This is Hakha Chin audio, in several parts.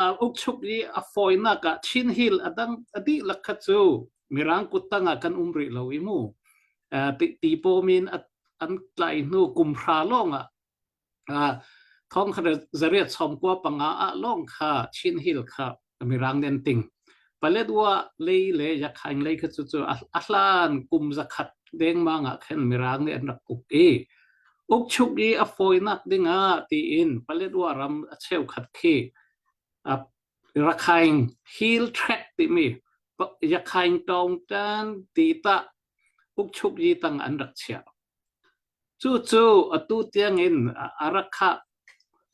ukchuk i a fawinak ah Chin Hill a dang a dihlak kha cu Mirang kuttang ah kan um rih lo i mu ti pomin an tlai hnu kumhra lawng ah thong kha zariat chom kwa panga a lawng kha Chin Hill kha Mirang nen ting Paletwa lei le Yakhain lei kha cu a hlan kum zakhat dengmang ah khan Mirang nih an rak uk i ukchuk i a fawinak dingah tiin Paletwa ram a cheukhat khi Rakhain Hill Tract timi Yakhain Taungtan ti tah ukchuk yi tang an rak chiah. Cu cu atu tiangin a rak khah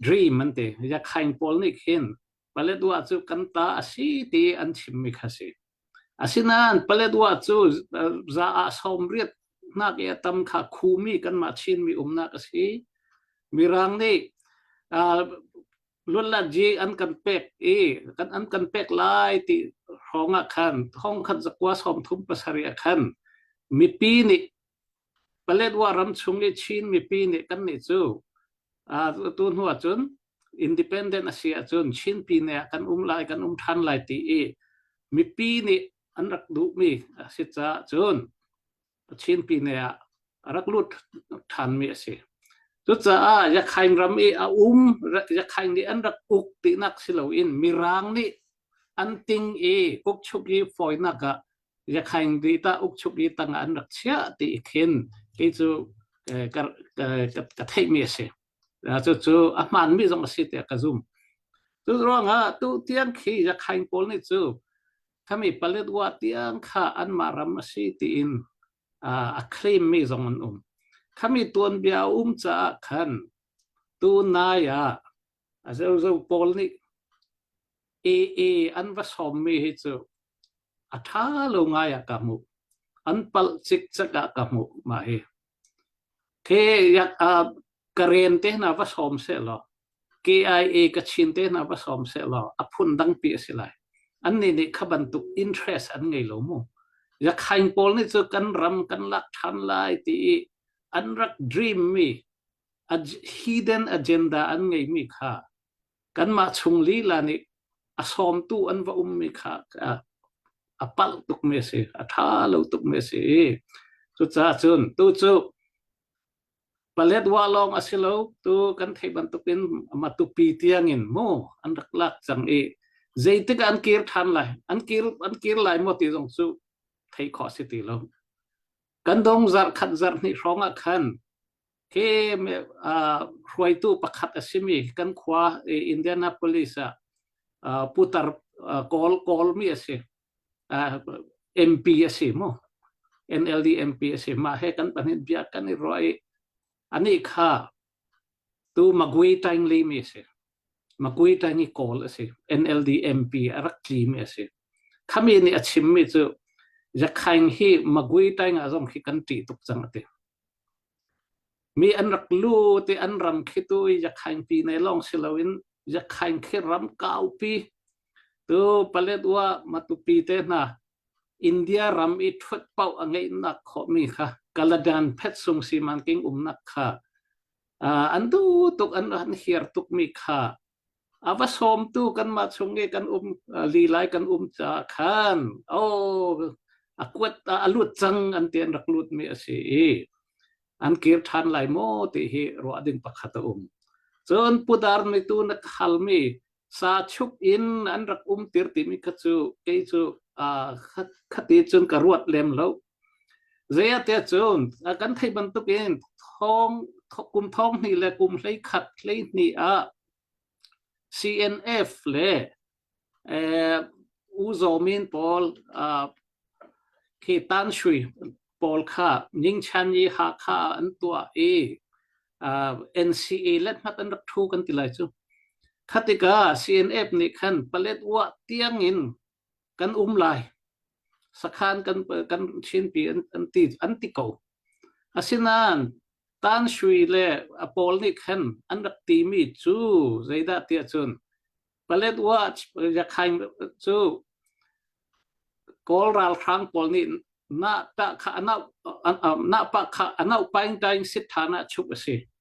dream an ti. Yakhain pawl nih khin Paletwa cu kan ta a si ti an chimmi kha si. Asinain Paletwa cu za ah sawmriat nak i a tam kha khumi kanmah Chinmi umnak a si. Mirang nih luatlatji an kan pek i kan an kan pek lai ti hrawng ah khan thong khat zakua sawm thum pasarih ah khan mipi nih Paletwa ram chung i Chin mipi nih kan nih cu tu hnu ahcun independent a si ahcun Chinpi nih kan um lai kan um ṭhan lai ti i mipi nih an rak duhmi a si caah cun Chinpi nih ah a rak lut ṭhanmi a si. Cucaah Yakhain ram i a um Yakhain nih an rak uk tinak si loin Mirang nih an ting i kukchuk i fawinak ah Yakhaing di ta ukchuk i tang an rak chiah ti i khin kei cu ka ka theihmi a si. Cu cu a hmaanmi zong a si tiah ka zum. Cu ruangah tu tiang khi Yakhaing pawl nih cu thami Paletwa tiang kha anmah ram a si tiin a claimmi zong an um. Khami tuanbia a um caah khan tu nai ah A zozo pawl nih AA an va sawmmi hi cu a ṭha lo ngai ah ka hmuh. An palh cikcek ah ka hmuh mah hi. The yak uh, ka ren te hna va sawm se law KIA ka chin te hna va sawm se law a phun dangpi a si lai. An nih nih kha bantuk interest an ngei lo mu. Ya khain pawl nih cu kan ram kan lak ṭhan lai ti i an rak dream mi hidden agenda an ngeimi kha kanmah chung lila nih a sawmtu an va ummi kha a palh tukmi a si a ṭha lo tukmi a si cucaah cun tu cu paletwa lawng a si lo tu kan theih bantukin matupi tiangin mu an rak lak cang i zeitik an kir ṭhan lai an kir an kir lai maw ti zong cu theih khawh si ti lo kan dong zarh khat zarh hnih hrawng ah khan hruaitu pakhat a simi kan khua Indianapolis ah putar kawl kawlmi a si MP a si mu NLD MP a si mah he kan pahnih bia kan i ruah i anih kha tu Magui Tangley mi a si Magui Tangley kawl a si NLD MP a rak tlimi a si khami nih a chimmi cu Yakhaing hi Magui Tang ah zong khi kan ṭih tuk cang a ti Mi an rak lut i an ram khitu i Yakhain pi nei lawng si loin Yakhain khi ram kaupi tu Paletwa Matupi te hna India ram i ṭhut pauh a ngeihnak khawhmi kha Kaladan phetsung siman king umnak kha an tu tuk an ran hiar tukmi kha A va sawmtu kanmah chung i kan um lilai kan um caah khan aw a kuat a lut cang an ti an rak lutmi a si i an kir ṭhan lai maw ti hi ruah ding pakhat a um. Cun pudar nitu na khalmi sa chuk in an rak umtir timi kha cu kei cu khati cun ka ruat lem lo. Zeite cun kan theih bantukin thong kum thong hnih le kum hlei khat hlei hnih ah CNF le eh, u zomin pawl uh, khi tan shui pawl kha nyingchan i ha kha an tua i uh, NCA let mat an rak thu kan ti lai cu khatika CNF nih khan palet wa tiang in kan um lai sakhan kan kan chinpi an an ti an ti ko asinain tan shui le a pawl nih khan an rak ti mi cu zeidah tiah cun palet wa yakhain cu kawl ralhrang pawl nih na ta kha anau na pa kha anau paing taing sit thana chup a si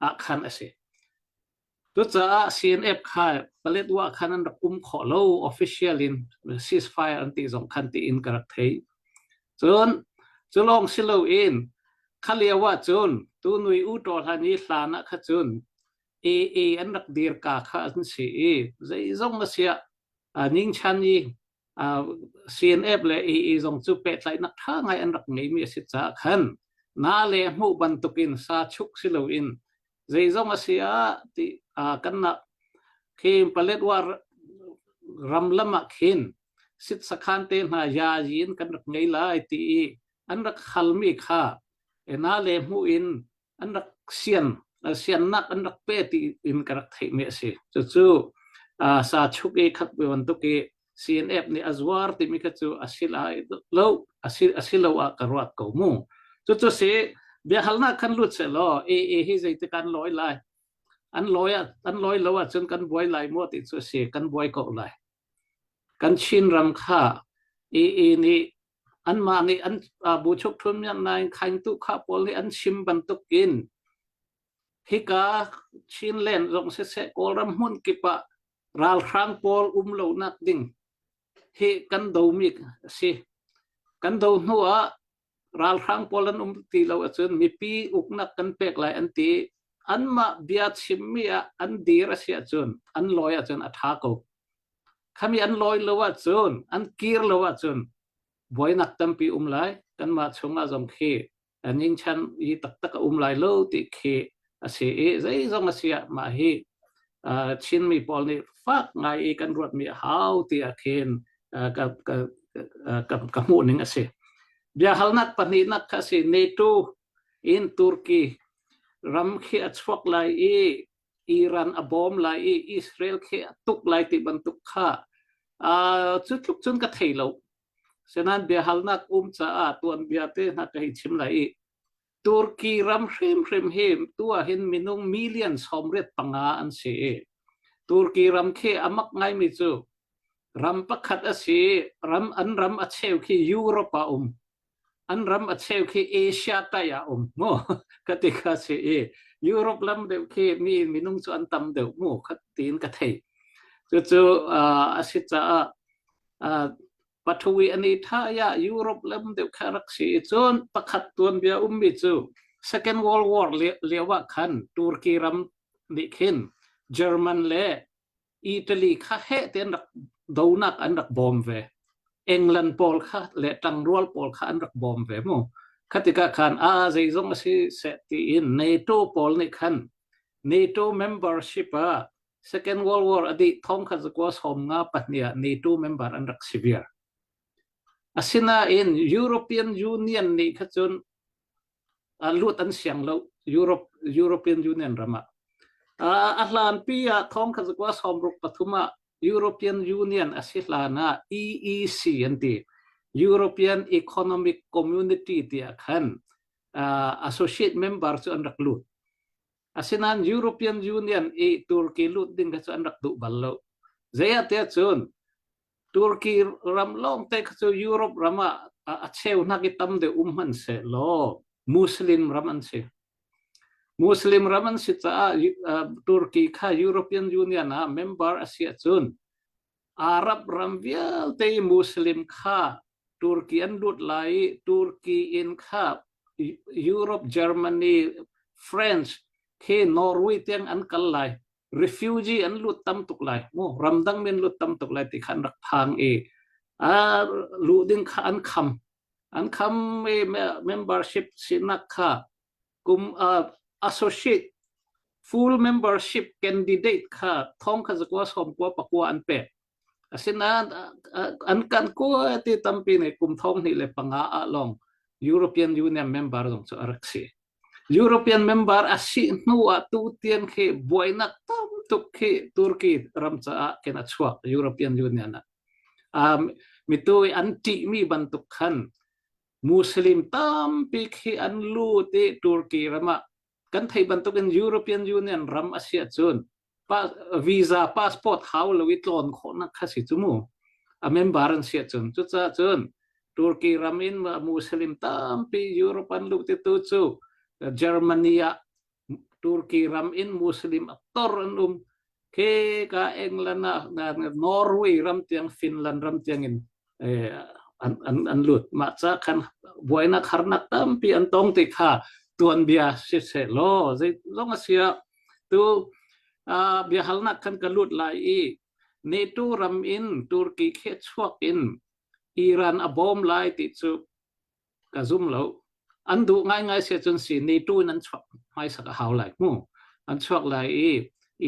ah khan a si. Cucaah CNF kha Paletwa khan an rak um khawh lo official in ceasefire an ti zong khan tiin ka rak thei. Cun cu lawng si lo in kha lio ah cun tu nui u to hlan i hlan ah kha cun AA an rak dir ka kha an si i zeizong a siah ning chan i uh, CNF le EE zong cu pehtlaihnak tha ngai an rak ngeimi a si caah khan na le hmuh bantukin sa chuk si loin zeizong a si ah ti uh, kan nak khin paletwar ram lamah khin sit sakhan te hna ya yin kan rak ngei lai ti i an rak halmi kha ena le mu in an rak sian siannak an rak pe ti in ka rak theihmi a si cucu sa chuk i khat ve bantuk i CNF nih a zuar timi kha cu a si lai lo a si a si lo ah ka ruat ko mu cucu si biahalnak kan lut se law e e hi zeitik an loi lai an loi an loi lo ahcun kan buai lai mu ti cu a si kan buai ko lai kan Chin ram kha ee nih anmah nih an bu chukthum nian nain khaingtu kha pawl hi an chim bantuk in hika Chinland zong siseh Kawlram hmun kip ah ralhrang pawl um lo nak ding hi kan do mi a si kan do hnu ah ralhrang pawl an um ti lo ahcun mipi uknak kan pek lai an ti anmah bia chim mi ah an dir a si ahcun an lawi ahcun a tha ko Khami an lawi lo ahcun, an kir lo ahcun, buainak tampi um lai. Kanmah chungah zong khi ning i taktak a um lai lo ti khi a si i zeizong a si ah mah hi Chinmi pawl nih fak ngai i kan ruatmi a hau ti ah khin ka hmuhning a si. Biahalnak pahnihnak kha a si NATO in Turkey ram khi a chuak lai i Iran a bawm lai i Israel khe a tuk lai ti bantuk kha cu tluk cun ka thei lo senan biahalnak um caah tuanbia te hna ka hi chim lai i Turki ram hrimhrim hi tua hin minung million somret panga an si i Turki ram khi amak ngaimi cu ram pakhat a si ram an ram a cheu khi Europe ah um an ram a cheu khi Asia tai ah um mu ka ti kha si i Europe lam deuh khi mi minung cu an tam deuh mu kha tiin ka thei cucu a si caah pathawi ani tha ya Europe lam deuh kha rak si cun pakhat tuan bia ummi cu Second World War lio ah khan Turkey ram nih khin German le Italy kha heh te an rak donak an rak bawm ve. England pawl kha le tangrual pawl kha an rak bawm ve mu. Khatika khan a zeizong a si se tiin NATO pawl nih khan NATO membership ah Second World War a dih thong kha zakwa som nga pahnia NATO member an rak si viar. Asinain European Union nih kha cun luat an siang lo Europe European Union ram ah a hlan pi ah thong kha kwa som ruk pathum ah European Union a si hlan ah EEC an ti European Economic Community ti ah khan associate member cu an rak lut Asinain European Union i Turkey lut ding kha cu an rak duh bal lo. Zeiahtiah cun Turkey ram lawngte kha cu Europe ram ah a cheunak i tam deuh um hman se law Muslim ram an si. Muslim ram an si caah Turkey kha European Union ah member a si ahcun Arab ram vialte Muslim kha Turkey an lut lai i Turkey in kha Europe, Germany, France khi Norway tiang an kal lai refugee an lut tam tuk lai mu ramdang min lut tam tuk lai ti khan rak phang i a lu ding kha an kham an kham i membership sinak kha kum uh, associate full membership candidate kha thong kha zakwa som kwa pakwa an pe asinain an kan kwa ti tampi ne kum thong ni le panga a long European Union member dong chu arak si European member asi hnu a tu tien khi buainak tam tuk khi Turkey ram cha kena chuak European Union um mi tu anti mi bantuk khan Muslim tampi khi an lut i Turkey ram ah kan theih bantukin European Union ram a si ahcun visa passport hau lo i tlawn khawhnak kha si cu mu a member an si ahcun cucaah cun Turkey ram in Muslim tampi Europe an lut i tu cu Germany ah Turki ram in Muslim aktor an um ke ka England ah Norway ram tiang Finland ram tiang in eh, an an an lut ma cha khan buainak harnak tampi an tong te kha tuan bia si se lo zai zong asia tu bia halnak khan ka lut lai i ni tu ram in Turki khe chuak in Iran a bom lai ti chu ka zum lo an duh ngaingai se cun si ni tu nan chuak mai sak a hau lai mu an chuak lai i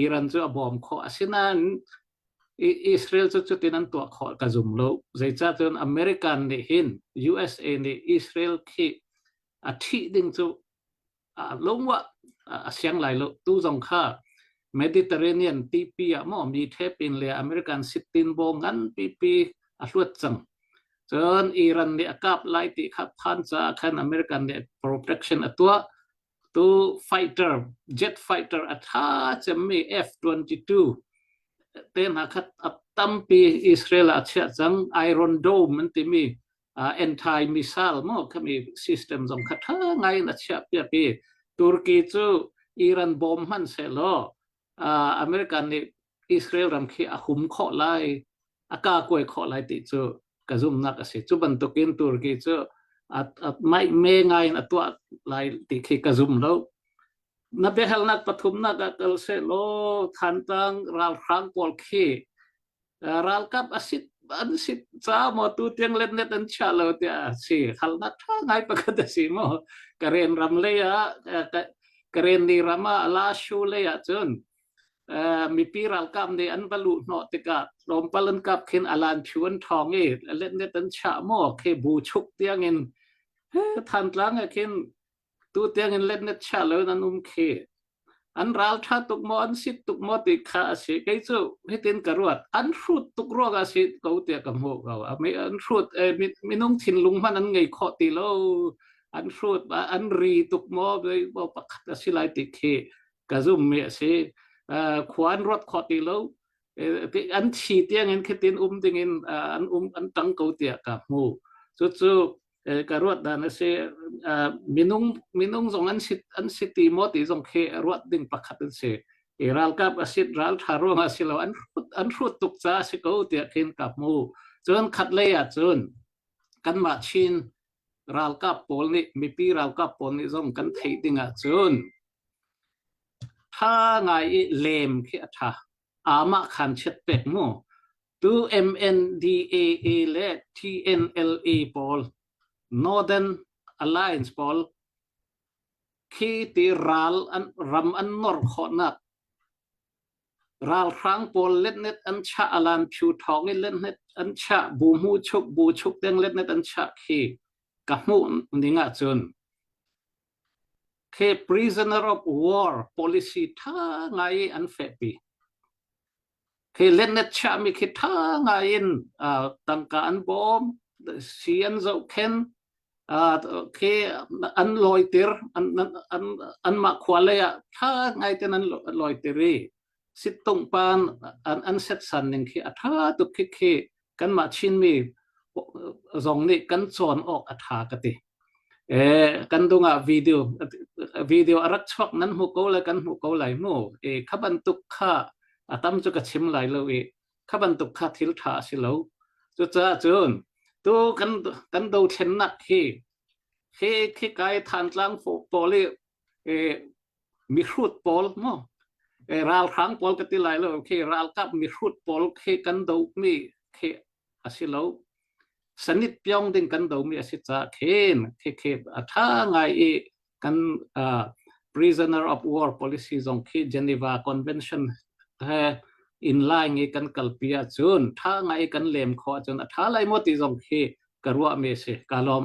Iran cu a bawm kho asinain Israel cu cutin an tuah kho ka zum lo zeica cun American nih hin USA nih Israel khi a thih ding cu a lungwa a siang lai lo tu zong kha Mediterranean tipi a mo mi thepin le American sitin bo ngan pipi a hluat cang cun Iran nih a kap lai ti kha phan ca khan American nih protection a tua tu fighter jet fighter a tha cemmi F22 te hna kha a tampi Israel a chia cang Iron Dome an timi uh, anti missile mo kami system zong kha tha ngai na chia piak i Turkey cu Iran bom man se lo uh, American nih Israel ram khi a hum kho lai a ka koi kho lai ti cu ka zumnak a si cu bantukin Turkey cu mai me ngai in a tua lai ti khi ka zum lo na biahalnak pathumnak a kal se lo thantang ralhrang pawl khi ralkap asit an sit ca maw tu tiang let net an chia lo tiah a si khalnak tha ngai pakhat a si maw karen ram lei ah karen ni ram ah la shu lei ah cun mipi ralkap nih an va luh hnawh tikah tlawmpal an kap khin alan phu an thong i let net an cha maw ke bu chuk tiang in than tlang a khin tu tiangin let na chia lo nan um khi an ral tha tuk mo an sit tuk mo ti kha asi kei chu hitin ka ruat an hrut tuk ruang asi ko tia ka mo ko ami an hrut eh, minung thinlung man an ngei kho ti lo an hrut an ri tuk mo bo pakhat asi lai ti khi ka zoom mi asi khuan rot kho ti lo an thi tiangin khitin um dingin an um an tang ko tia ka mu chu chu ka ruat dan a si minung minung zong an si an si ti maw ti zong khi ruat ding pakhat an si i ralkap a sit ral tha ruang a si lo an hrut an hrut tuk ca a si ko tiah khin ka hmu cun khat lei ah cun kanmah chin ralkap pawl nih mipi ralkap pawl nih zong kan theih ding ah cun tha ngai i lem khi a tha amah khan chiat pek mu Tu MNDAA le TNLA pawl, Northern Alliance pawl, khi ti ral an ram an nor khawhnak ralhrang pawl letnet an cha alan phu thong i letnet an cha bu mu chuk bu chuk deng letnet an cha khi ka mu ning ahcun khi prisoner of war policy tha ngai an fehpi khi letnet chiahmi khi ṭha ngai in tangka an bawm si an zohkhen khi an lawiter anmah khua lei ah ṭha ngai ten an lawiter i sittungpan an setsan ning khi a ṭha tuk khikhi kanmah Chinmi zong nih kan cawn awk a ṭha ka ti. Eh, kan dungah video video a rak chuak nan hmu ko le kan hmu ko lai mu. E kha bantuk kha a tam cu ka chim lai lo i kha bantuk kha thil ṭha a si lo. Cucaah cun tu kan kan do thlennak hi khi khi kai than tlang pawl i mihrut pawl maw ralhrang pawl ka ti lai lo khi ralkap mihrut pawl khi kan do mi khi asi lo sanit pyong ding kan do mi asi ca khen khi khi a tha ngai i kan uh, prisoner of war policy zong khi Geneva convention he in lai ngi kan kalpia chun tha ngai kan lem kho chun a tha lai mo ti zong khi ka ruwa me se ka lom